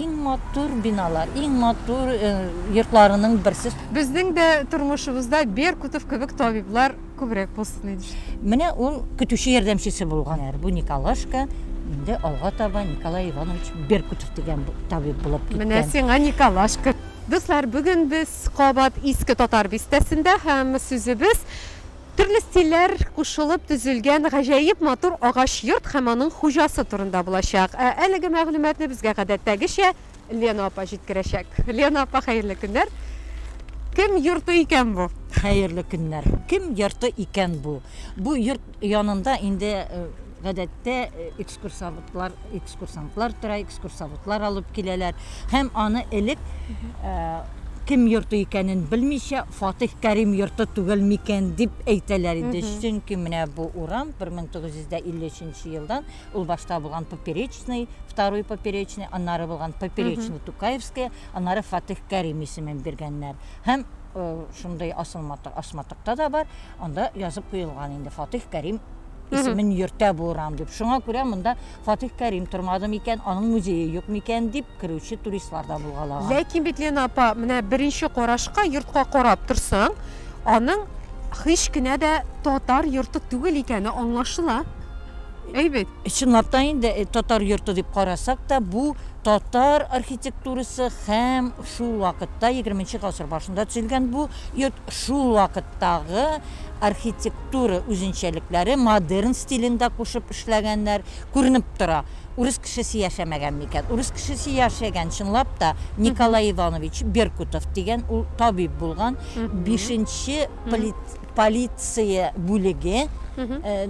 Иң матур биналар, иң матур э, йортларының берсе. Безнең дә тормышыбызда Беркутов кебек табиблар күбрәк булсын иде. Менә ул көтүче ярдәмчесе булган. Бу Николашка инде алга таба Николай Иванович Беркутов дигән табиб булып киткән. Менә сиңа Николашка. Дуслар, бүген без кабат Иске Татар бистәсендә һәм сүзебез Төрле стильләр кушылып төзелгән гаҗәеп матур агач йорт һәм аның хуҗасы турында булачак. Ә әлеге мәгълүматны безгә гадәттәгечә Лена апа җиткерәчәк. Лена апа, хәерле көннәр! Кем йорты икән бу? Хәерле көннәр! Кем йорты икән бу? Бу йорт янында инде гадәттә Экскурсоводлар, экскурсантлар тора, экскурсоводлар алып киләләр. Һәм аны элек кем йорты икәнен белмичә фатих кәрим йорты түгел микән дип әйтәләр иде чөнки менә бу урам 1953 елдан ул башта булган поперечный второй поперечный аннары булган поперечный тукаевская аннары фатих кәрим исемен биргәннәр һәм э, шундый асылматык асматыкта да бар анда язып куелган инде фатих кәрим исемен йөртә бу урам дип. Шуңа күрә монда Фатих Кәрим тормады микән, аның музее юк микән дип керүче туристлар да булгалаган. Ләкин бит Лена апа, менә беренче карашка йортка карап торсаң, аның һич кенә дә татар йорты түгел икәне аңлашыла. Әйбәт. Чынлап та инде э, татар йорты дип карасак та, бу татар архитектурасы һәм шул вакытта 20 нче гасыр башында төзелгән бу йорт шул вакыттагы архитектура үзенчәлекләре модерн стилен дә кушып эшләгәннәр. Күренеп тора, урыс кешесе яшәмәгән микән? Урыс кешесе яшәгән, чынлап та, Николай Иванович Беркутов дигән, ул табиб булган, бишенче полиция бүлеге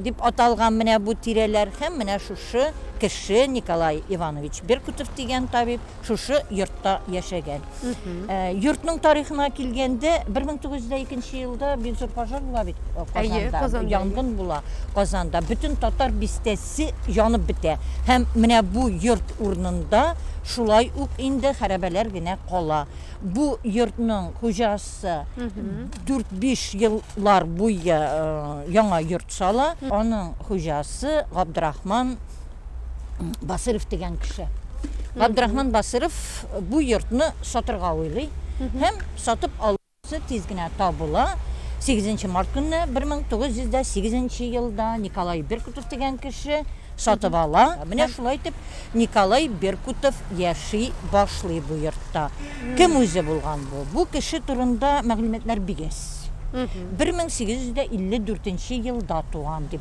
дип аталган менә бу тирәләр һәм менә шушы кеше Николай Иванович Беркутов дигән табиб шушы йортта яшәгән. Ә, йортның тарихына килгәндә, 1902 елда бик зур пожар була бит э, Әйе, Казанда. Казанда, Янгын була Казанда. Бөтен татар бистәсе янып бетә. Һәм менә бу йорт урынында шулай ук инде хәрабәләр генә кала. Бу йортның хуҗасы 4-5 еллар буе э, яңа йорт сала. Аның хуҗасы Габдрахман Басыров дигән кеше. Габдрахман Басыров бу йортны сатырга уйлый һәм сатып алучысы тиз генә табыла. 8 март көнне 1908 елда Николай Беркутов дигән кеше сатып ала. Менә шулай итеп Николай Беркутов яши башлый бу йортта. Кем үзе булган бу? Бу кеше турында мәгълүматлар бигез. 1854 елда туган дип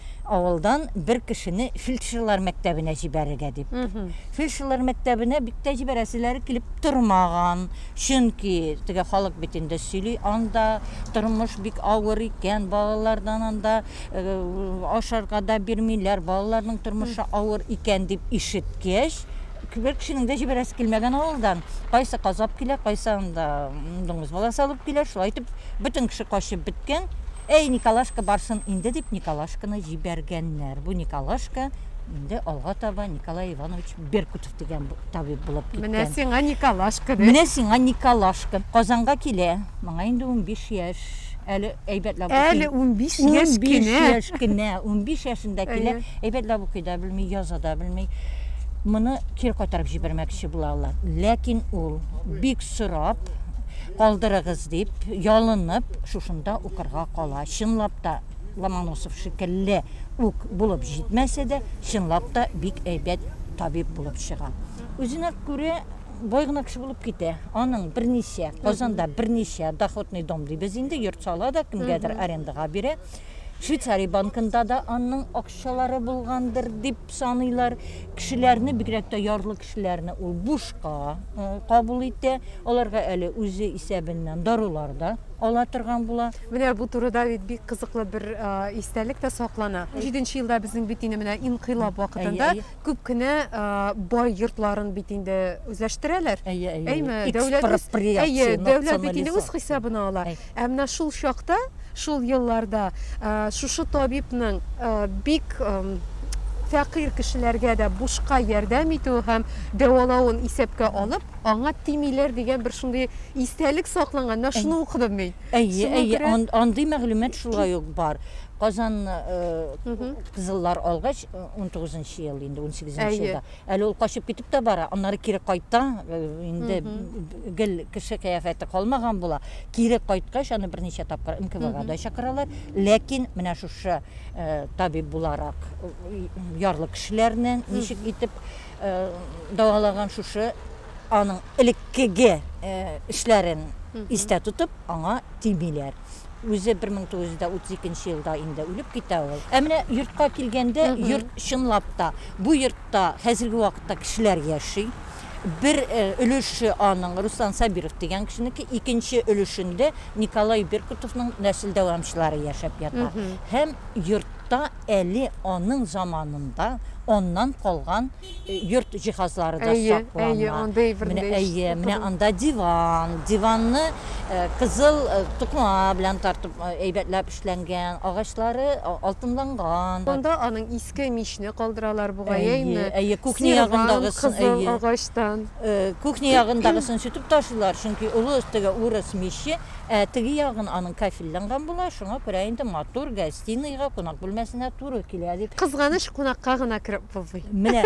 Авылдан бер кешене фельдшерлар мәктәбенә җибәрергә дип. Фельдшерлар мәктәбенә бик тә җибәрәселәре килеп тормаган. Чөнки теге халык бит инде сөйли, анда тормыш бик авыр икән, балалардан анда ашарга да бирмиләр, балаларның тормышы авыр икән дип ишеткәч, бер кешенең дә җибәрәсе килмәгән авылдан. Кайсы казап килә, кайсы анда дуңгыз баласы алып килә, шулай итеп бөтен кеше качып беткән. Әй, Николашка барсын инде, дип Николашканы җибәргәннәр. Бу Николашка инде алга таба Николай Иванович Беркутов дигән табиб булып киткән. Менә сиңа Николашка дип. Менә сиңа Николашка. Казанга килә. Моңа инде 15 яшь. Әле әйбәтләп укый. Әле 15 яшь кенә. 15 яшь кенә. 15 яшендә килә. Әйбәтләп укый да белми, яза да белми. Моны кире кайтарып җибәрмәкче булалар. Ләкин ул бик сорап, Калдырыгыз, дип ялынып, шушында укырга кала. Чынлап та, Ломоносов шикелле үк булып җитмәсә дә, чынлап та бик әйбәт табиб булып чыга. Үзенә күрә бай гына кеше булып китә. Аның берничә, Казанда берничә доходный дом дибез инде, йорт сала да, кемгәдер арендага бирә. Швейцария банкында да аның акчалары булгандыр, дип. саныйлар. Кешеләрне, бигрәк тә ярлы кешеләрне ул бушка кабул итә. Аларга әле үзе исәбеннән дарулар да ала торган була. Менә бу турыда бит бик кызыклы бер истәлек тә саклана. Җиденче елда безнең бит инде менә инкыйлаб вакытында күп кенә бай йортларын бит инде үзләштерәләр. Әйе, әйе. Дәүләт бит инде үз хисабына ала. Ә менә шул чакта, шул елларда шушы табибның бик фәкыйрь кешеләргә дә бушка ярдәм итүе һәм дәвалавын исәпкә алып, аңа тимиләр дигән бер шундый истәлек сакланган. Менә шуны укыдым мин. Әйе, әйе, андый мәгълүмат шулай ук бар. Казан кызыллар алгач, 19 нчы ел инде, 18 нче елда Әле ул качып китеп тә бара, аннары кире кайта, э, инде гел кеше кыяфәте калмаган була. Кире кайткач, аны берничә тапкыр НКВга да чакыралар. Ләкин менә шушы э, табиб буларак э, ярлы кешеләрне ничек итеп э, дәвалаган шушы аның элеккеге э, эшләрен истә тотып, аңа тимиләр. Үзе 1932 елда инде үлеп китә ул. Ә менә йортка килгәндә, йорт чынлап та, бу йортта хәзерге вакытта кешеләр яши. Бер өлеше аның Руслан Сабиров дигән кешенеке, икенче өлешендә Николай Беркутовның нәсел дәвамчылары яшәп ята. Һәм йортта әле аның заманында аннан калган йорт җиһазлары да әйе, саклана. Әйе, андый әйбердә. Әйе, менә анда диван. Диванны э, кызыл э, тукма белән тартып э, әйбәтләп эшләнгән, агачлары алтынланган. Анда аның иске мичне калдыралар бугай, әйме? Әйе, кухня ягындагы кызыл агачтан. Кухня ягындагысын сүтеп ташлыйлар, чөнки олы өстәгә урыс миче Ә теге ягын аның кафельланган була, шуңа күрә инде матур гостиныйга, кунак бүлмәсенә туры килә, дип. Кызганыч, кунакка гына кереп булмый. Менә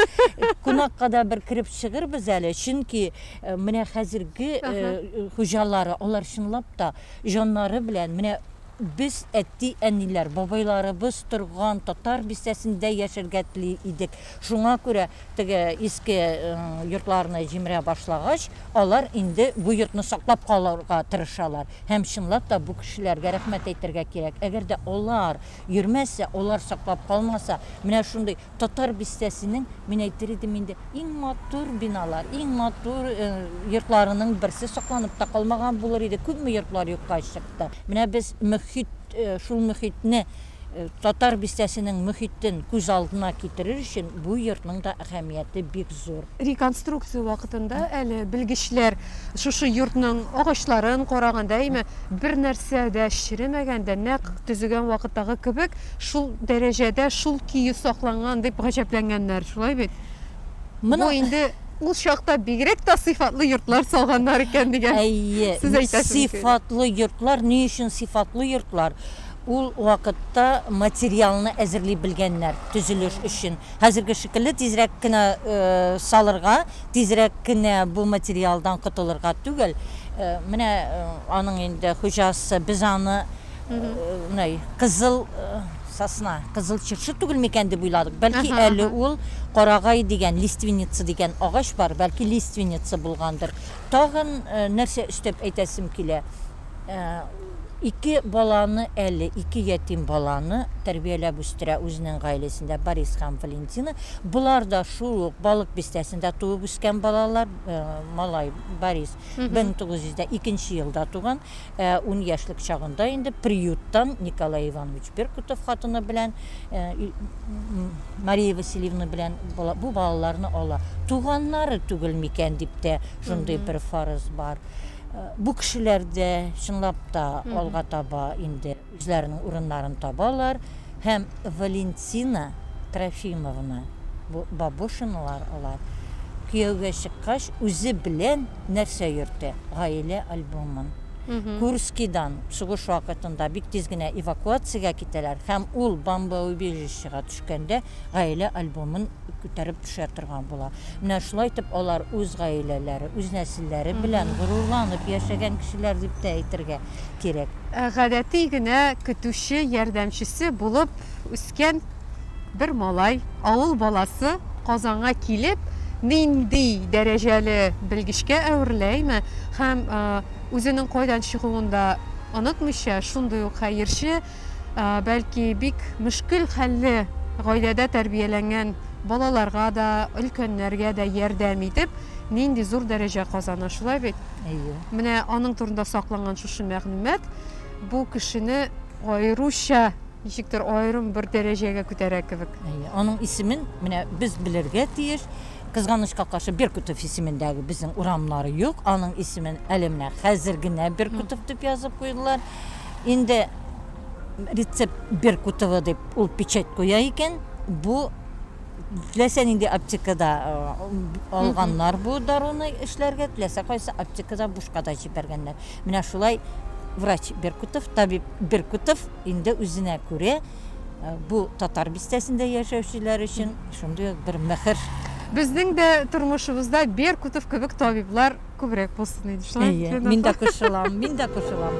кунакка да бер кереп чыгырбыз әле, чөнки менә хәзерге хуҗалары, алар чынлап та җаннары белән менә без әти-әниләр, бабайларыбыз торган татар бистәсендә яшәргә тели идек, Шуңа күрә теге иске йортларны җимерә башлагач, алар инде бу йортны саклап калырга тырышалар. Һәм чынлап та бу кешеләргә рәхмәт әйтергә кирәк. Әгәр дә алар йөрмәсә, алар саклап калмаса, менә шундый Татар бистәсенең, мин әйтер идем инде, иң матур биналар, иң матур йортларының берсе сакланып та калмаган булыр иде. Күпме йортлар юкка чыкты. Менә без мөхит, шул мөхитне Татар бистәсенең мөхитен күз алдына китерер өчен бу йортның да әһәмияте бик зур. Реконструкция вакытында әле белгечләр шушы йортның агачларын караганда, әйме, бернәрсә дә черемәгән дә, нәкъ төзегән вакыттагы кебек шул дәрәҗәдә, шул көе сакланган дип гаҗәпләнгәннәр. Шулай бит? Бу инде ул чакта бигрәк тә сыйфатлы йортлар салганнар икән дигән сүз әйтәсез. Әйе, сыйфатлы йортлар. Ни өчен сыйфатлы йортлар? Ул вакытта материалны әзерли белгәннәр төзелеш өчен. Хәзерге шикелле тизрәк кенә салырга, тизрәк кенә бу материалдан котылырга түгел. Менә аның инде хуҗасы, без аны менә кызыл сосна, кызыл чыршы түгел микән дип уйладык. Бәлки әле ул карагай дигән, лиственница дигән агач бар, бәлки лиственница булгандыр. Тагын нәрсә өстәп әйтәсем килә. Ике баланы әле, ике ятим баланы тәрбияләп үстерә үзенең гаиләсендә Борис һәм Валентина. Болар да шул ук Балык Бистәсендә туып үскән балалар. Малай Борис 1902 елда туган. Ун яшьлек чагында инде приюттан Николай Иванович Беркутов хатыны белән Мария Васильевна белән бу балаларны ала. Туганнары түгел микән дип тә шундый бер фарыз бар. Бу кешеләр дә, чынлап та, алга таба инде үзләренең урыннарын табалар. Һәм Валентина Трофимовна, бу Бабушиналар алар, кияүгә чыккач, үзе белән нәрсә йөртә? Гаилә альбомын. Курскидан сугыш вакытында бик тиз генә эвакуациягә китәләр һәм ул бомбоубежищега төшкәндә гаилә альбомын күтәреп төшә торган була. Менә шулай итеп алар үз гаиләләре, үз нәселләре белән горурланып яшәгән кешеләр дип тә әйтергә кирәк. Гадәти генә көтүче ярдәмчесе булып үскән бер малай, авыл баласы Казанга килеп, нинди дәрәҗәле белгечкә әвереләме һәм үзенең кайдан чыгуын да онытмыйча, шундый ук хәерче, бәлки бик мөшкел хәлле гаиләдә тәрбияләнгән балаларга да, өлкәннәргә дә ярдәм итеп, нинди зур дәрәҗә казана, шулай бит? Әйе. Менә аның турында сакланган шушы мәгълүмат бу кешене аеруча ничектер аерым бер дәрәҗәгә күтәрә кебек. Әйе. Аның исемен менә без белергә тиеш. Кызганычка каршы Беркутов исемендәге безнең урамнары юк. Аның исемен әле менә хәзер генә Беркутов дип язып куйдылар. Инде рецепт Беркутова дип ул печать куя икән, бу теләсә нинди аптекада алганнар бу даруны эшләргә, теләсә кайсы аптекада бушка да җибәргәннәр. Менә шулай врач Беркутов, табиб Беркутов инде үзенә күрә бу татар бистәсендә яшәүчеләр өчен шундый ук бер мөһер. Безнең дә тормышыбызда Беркутов кебек табиблар Күбрәк булсын иде шулай бит Әйе, мин дә кушылам, мин дә кушылам.